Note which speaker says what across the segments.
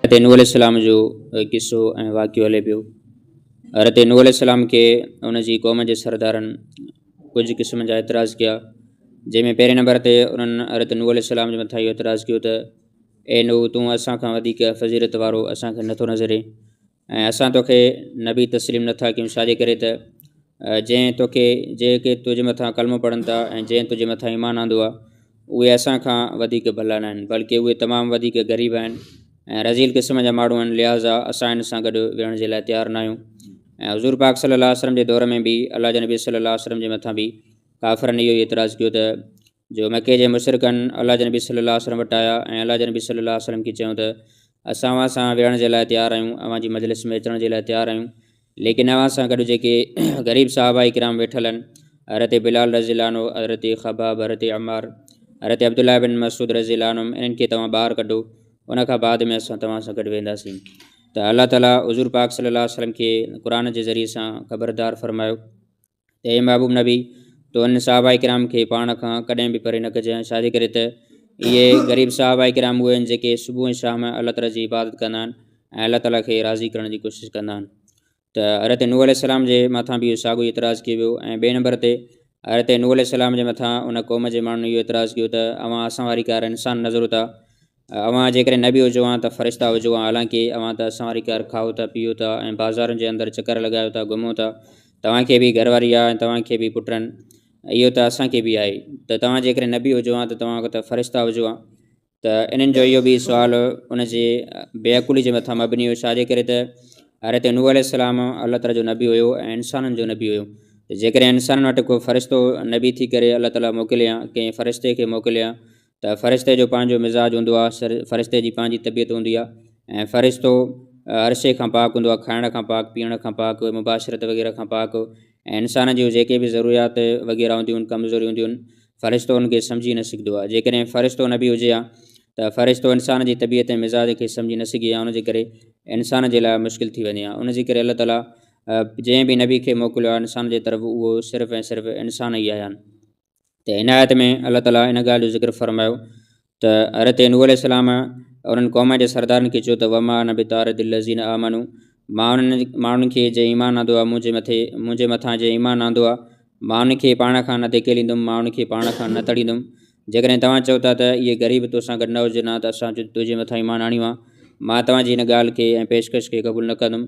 Speaker 1: حضرت نوح عليه السلام جو قصو ۽ واقعو هلي پيو حضرت نوح عليه السلام کي ان جي قوم جي سردارن ڪجهه قسم جا اعتراض ڪيا جنهن ۾ پهرين نمبر تي انهن حضرت نوح عليه السلام جي مٿان اهو اعتراض ڪيو ته اي نو تون اسان کان وڌيڪ فضيلت وارو اسان کي نٿو نظرين ۽ اسان توکي نبي تسليم نه ٿا ڪيون ڇاجي ڪري ته جنهن توکي جيڪي تنهنجي مٿان ڪلمو پڙهن ٿا ۽ جنهن تنهنجي مٿان ايمان آندو آهي اهي اسان کان وڌيڪ ڀلا نه آهن بلڪه اهي تمام وڌيڪ غريب آهن ۽ رذيل قسم جا ماڻهو آهن لهٰذا اسان هن سان گڏ ويهڻ جي لاء تيار نه آهيون ۽ حضور پاڪ صلي الله وسلم جي دور ۾ به الله جي نبي صلي الله وسلم جي مٿان به ڪافرن اهو ئي اعتراض ڪيو ته جو مڪي جي مشرڪن الله جي نبي صلي الله عليه وسلم وٽ آيا ۽ الله جي نبي صلي الله عليه وسلم کي چيو ته اسان اوهان سان ويهڻ جي لاء تيار آهيون اوهان جي مجلس ۾ اچڻ جي لاء تيار آهيون ليڪن اوهان سان گڏ جيڪي غريب صحابه ڪرام ويٺل آهن حضرت بلال رضي الله عنه حضرت خباب حضرت عمار حضرت عبدالله بن مسعود رضي الله عنهم انهن کي توهان ٻاهر ڪڍو ان کان بعد ۾ اسان توهان سان گڏ وينداسين ته الله تعالیٰ حضور پاڪ صلي الله عليه وسلم کي قرآن جي ذريعي سان خبردار فرمايو ته اي محبوب نبي! تو انهن صحابه ڪرام کي پاڻ کان ڪڏهن به پري نه ڪجانء، ڇاجي ڪري ته اهي غريب صحابه ڪرام اهي آهن جيڪي صبح ۽ شام الله تعالي جي عبادت ڪندا آهن ۽ الله تعالي کي راضي ڪرڻ جي ڪوشش ڪندا آهن. ته حضرت نوح عليه السلام جي مٿان به اهو ساڳيو ئي اعتراض ڪيو ويو ۽ ٻئي نمبر تي حضرت نوح عليه السلام جي مٿان ان قوم جي ماڻهن اهو اعتراض ڪيو ته اوهان اسان واري ڪار انسان نظرو ٿا اوهان جيڪڏهن نبي هجو ها ته فرشتا هجو ها، حالانڪه اوهان ته اسان واري کير کائو ٿا، پيئو ٿا ۽ بازارن جي اندر چڪر لڳايو ٿا، گهمو ٿا. توهان کي به گهر واري آهي ۽ توهان کي به پٽن. اهو ته اسان کي به آهي. ته توهان جيڪڏهن نبي هجو ها ته توهان ته فرشتا هجو ها. ته انهن جو اهو به سوال ان جي بي عقلي جي مٿان مبني هو، ڇا جي ڪري ته حضرت نوح عليه السلام الله تعالي جو نبي هيو ۽ انسانن جو نبي هيو. ته جيڪڏهن انسانن وٽ ڪو فرشتو نبي ٿي ڪري الله تعالي موڪلي ها، ڪنهن فرشتي کي موڪلي ها، ته فرشتي جو پنهنجو مزاج هوندو آهي فرشتي جي پنهنجي طبيعت هوندي آهي ۽ فرشتو هر شيء کان پاڪ هوندو آهي کائڻ کان پاڪ پيئڻ کان پاڪ مباشرت وغيره کان پاڪ ۽ انسان جون جيڪي به ضروريات وغيره هونديون آهن ڪمزوريون هونديون آهن فرشتو ان کي سمجهي نه سگهندو آهي جيڪڏهن فرشتو نه به هجي ها ته فرشتو انسان جي طبيعت ۽ مزاج کي سمجهي نه سگهي ها ان جي ڪري انسان جي لاء مشڪل ٿي وڃي ها ان جي ڪري الله تعاليٰ جنهن به نبي کي موڪليو آهي انسان جي طرف اهو صرف ۽ صرف انسان ئي آيا آهن ته هن آيت ۾ الله تعالي ان ڳالهه جو ذڪر فرمايو ته حضرت نوح عليه السلام انهن قومن جي سردارن کي چيو ته وما انا بطارد الذين آمنوا مان انهن ماڻهن کي جنهن ايمان آندو آهي منهنجي مٿي منهنجي مٿان جنهن ايمان آندو آهي مان ان کي پاڻ کان نه ڌڪيليندم مان ان کي پاڻ کان نه تڙيندم جيڪڏهن توهان چئو ٿا ته اهي غريب تو سان گڏ نه هجن ها ته اسان تنهنجي مٿان ايمان آڻيون ها مان توهان جي هن ڳالهه کي ۽ پيشڪش کي قبول نه ڪندم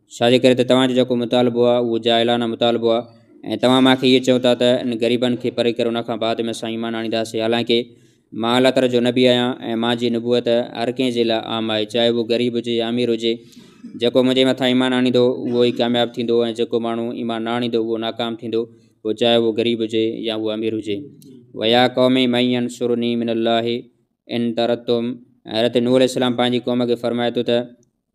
Speaker 1: ڇا جي ڪري ته توهان جو جيڪو مطالبو آهي اهو جاهلانه مطالبو آهي ۽ توهان مان کي اهي چئو ٿا ته ان غريبن کي پري ڪري ان کان بعد ۾ اسان ايمان آڻينداسي حالانڪه مان الله تعالي جو نبي آهيان ۽ مان جي نبوت هر ڪنهن جي لاء عام آهي چاهي اهو غريب هجي يا امير هجي جيڪو منهنجي مٿان ايمان آڻيندو اهو ئي ڪامياب ٿيندو ۽ جيڪو ماڻهو ايمان نه آڻيندو اهو ناڪام ٿيندو پوء چاهي اهو غريب هجي يا اهو امير هجي ويا قوم من ينصرني من الله ان ترتم حضرت نوح عليه السلام پنهنجي قوم کي فرمائي ٿو ته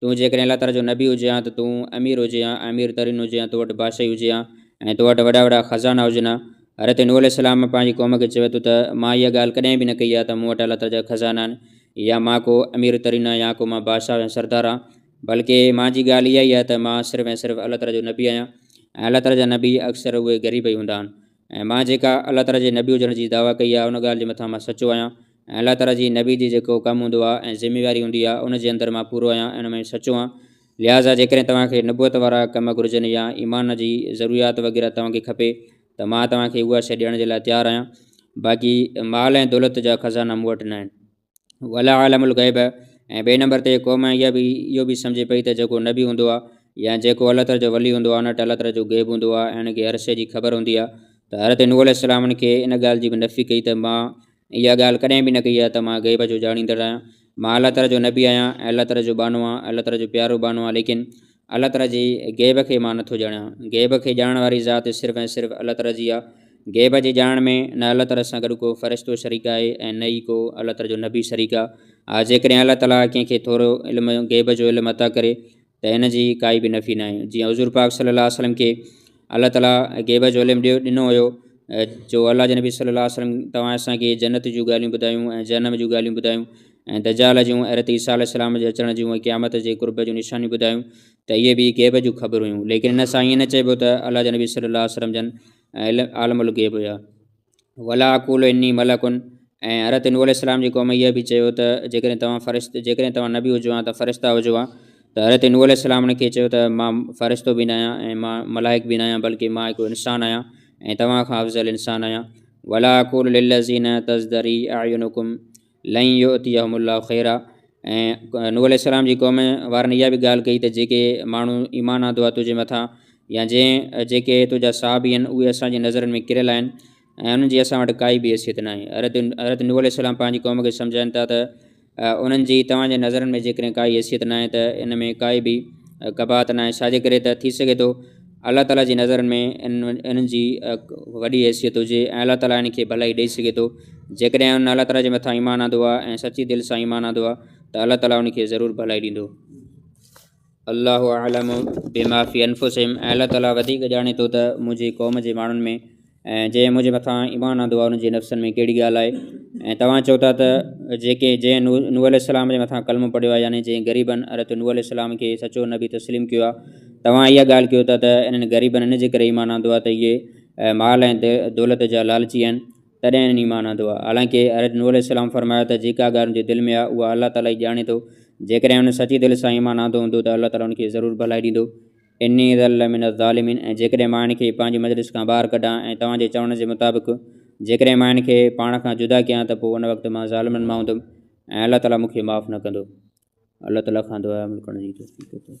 Speaker 1: تون جيڪڏهن الله تعاليٰ جو نبي هجي هان ته تون امير هجي هان امير ترين هجي هان تو وٽ بادشاهي هجي هان ۽ تو وٽ وڏا وڏا خزانا هجن هان حضرت نوح عليه السلام پنهنجي قوم کي چوي ٿو ته مان اها ڳالهه ڪڏهن به نه ڪئي آهي ته مون وٽ الله تعاليٰ جا خزانا آهن يا مان ڪو امير ترين آهيان يا ڪو مان بادشاهه يا سردار آهيان بلڪه مان جي ڳالهه اها ئي آهي ته مان صرف ۽ صرف الله تعاليٰ جو نبي آهيان ۽ الله تعاليٰ جا نبي اڪثر اهي غريب ئي هوندا آهن ۽ مان جيڪا الله تعالي جي نبي هجڻ جي دعويٰ ڪئي آهي ان ڳالهه جي مٿان مان سچو آهيان ۽ الله تعالي جي نبي جي جيڪو ڪم هوندو آهي ۽ ذميواري هوندي آهي ان جي اندر مان پورو آهيان ۽ ان ۾ سچو آهيان لهٰذا جيڪڏهن توهان کي نبوت وارا ڪم گهرجن يا ايمان جي ضروريات وغيره توهان کي کپي ته مان توهان کي اها شيء ڏيڻ جي لاء تيار آهيان باقي مال ۽ دولت جا خزانا مون وٽ ناهن. ولا عالم الغيب ۽ ٻئي نمبر تي قوم اها به اهو به سمجهي پئي ته جيڪو نبي هوندو آهي يا جيڪو الله تعالیٰ جو ولي هوندو آهي ان وٽ الله تعالیٰ جو غيب هوندو آهي ۽ ان کي هر شي جي خبر هوندي آهي ته حضرت نوح عليه السلام ان کي ان ڳالهه جي به نفي ڪئي ته مان اها ڳالهه ڪڏهن به نه ڪئي آهي ته مان غيب جو ڄاڻيندڙ آهيان مان الله تعالیٰ جو نبي آهيان ۽ الله تعالیٰ جو ٻانهو آهيان الله تعالیٰ جو پيارو ٻانهو آهيان ليڪن الله تعاليٰ جي غيب کي مان نٿو ڄاڻيان، غيب کي ڄاڻڻ واري ذات صرف ۽ صرف الله تعاليٰ جي آهي، غيب جي ڄاڻڻ ۾ نه الله تعاليٰ سان گڏ ڪو فرشتو شريڪ آهي ۽ نه ئي ڪو الله تعاليٰ جو نبي شريڪ آهي، ها جيڪڏهن الله تعاليٰ ڪنهن کي ٿورو علم غيب جو علم عطا ڪري ته ان جي ڪائي به نفي ناهي، جيئن حضور پاڪ صلي الله عليه وسلم کي الله تعاليٰ غيب جو علم ڏيو ڏنو هيو جو الله جي نبي صلي الله عليه وسلم توهان اسان کي جنت جون ڳالهيون ٻڌايون ۽ جهنم جون ڳالهيون ٻڌايون ۽ دجال جون حضرت عيسيٰ عليه السلام جي اچڻ جون ۽ قيامت جي قرب جون نشانيون ٻڌايون ته اهي به غيب جون خبرون هيون ليڪن ان سان ائين نه چئبو ته الله جي نبي صلي الله عليه وسلم جن عالم الغيب هيا ولا اقول اني ملڪ ۽ حضرت نوح عليه السلام جي قوم اهي به چيو ته جيڪڏهن توهان فرشت جيڪڏهن توهان نبي هجو ها ته فرشتا هجو ها ته حضرت نوح عليه السلام انهن کي چيو ته مان فرشتو به نه آهيان ۽ مان ملائڪ به نه آهيان بلڪه مان هڪڙو انسان آهيان ۽ توهان کان افضل انسان آهيان ولا اقول للذين تزدري اعينكم لن يؤتيهم الله خيرا ۽ نوح عليه السلام جي قوم وارن اها به ڳالهه ڪئي ته جيڪي ماڻهو ايمان آندو آهي تنهنجي مٿان يا جنهن جيڪي تنهنجا صحابي آهن اهي اسان جي نظرن ۾ ڪريل آهن ۽ انهن جي اسان وٽ ڪائي به حيثيت ناهي حضرت حضرت نوح عليه السلام پنهنجي قوم کي سمجهائن ٿا ته انهن جي توهان جي نظرن ۾ جيڪڏهن ڪائي حيثيت ناهي ته ان ۾ ڪائي به قباحت ناهي ڇاجي ڪري ته ٿي سگهي ٿو الله تعاليٰ جي نظرن ۾ انهن جي وڏي حيثيت هجي ۽ الله تعاليٰ هن کي ڀلائي ڏئي سگهي ٿو جيڪڏهن هن الله تعاليٰ جي مٿان ايمان آندو آهي ۽ سچي دل سان ايمان آندو آهي ته الله تعاليٰ هن کي ضرور ڀلائي ڏيندو الله اعلم بما في انفسهم ۽ الله تعاليٰ وڌيڪ ڄاڻي ٿو ته منهنجي قوم جي ماڻهن ۾ ۽ جنهن منهنجي مٿان ايمان آندو آهي، انهن جي نفسن ۾ ڪهڙي ڳالهه آهي؟ ۽ توهان چئو ٿا ته جيڪي جنهن نوح عليه السلام جي مٿان ڪلمو پڙهيو آهي يعني جنهن غريبن حضرت نوح عليه السلام کي سچو نبي تسليم ڪيو آهي، توهان اها ڳالهه ڪيو ٿا ته انهن غريبن ان جي ڪري ايمان آندو آهي ته اهي مال ۽ دولت جا لالچي آهن، تڏهن انهن ايمان آندو آهي. حالانڪه حضرت نوح عليه السلام فرمايو ته جيڪا ڳالهه ان جي دل ۾ آهي، اها الله تعاليٰ ئي ڄاڻي ٿو، جيڪڏهن هن سچي دل سان ايمان آندو هوندو ته الله تعاليٰ ان کي ضرور ڀلائي ڏيندو. اني اذا لمن الظالمين ۽ جيڪڏهن مان هن کي پنهنجي مجلس کان ٻاهر ڪڍان ۽ توهان جي چوڻ جي مطابق جيڪڏهن مان هن کي پاڻ کان جدا ڪيان ته پوء ان وقت مان ظالمن مان هوندم ۽ الله تعالي مون کي معاف نه ڪندو. الله تعالي کان دعا ۽ عمل ڪرڻ جي توفيق عطا فرماء.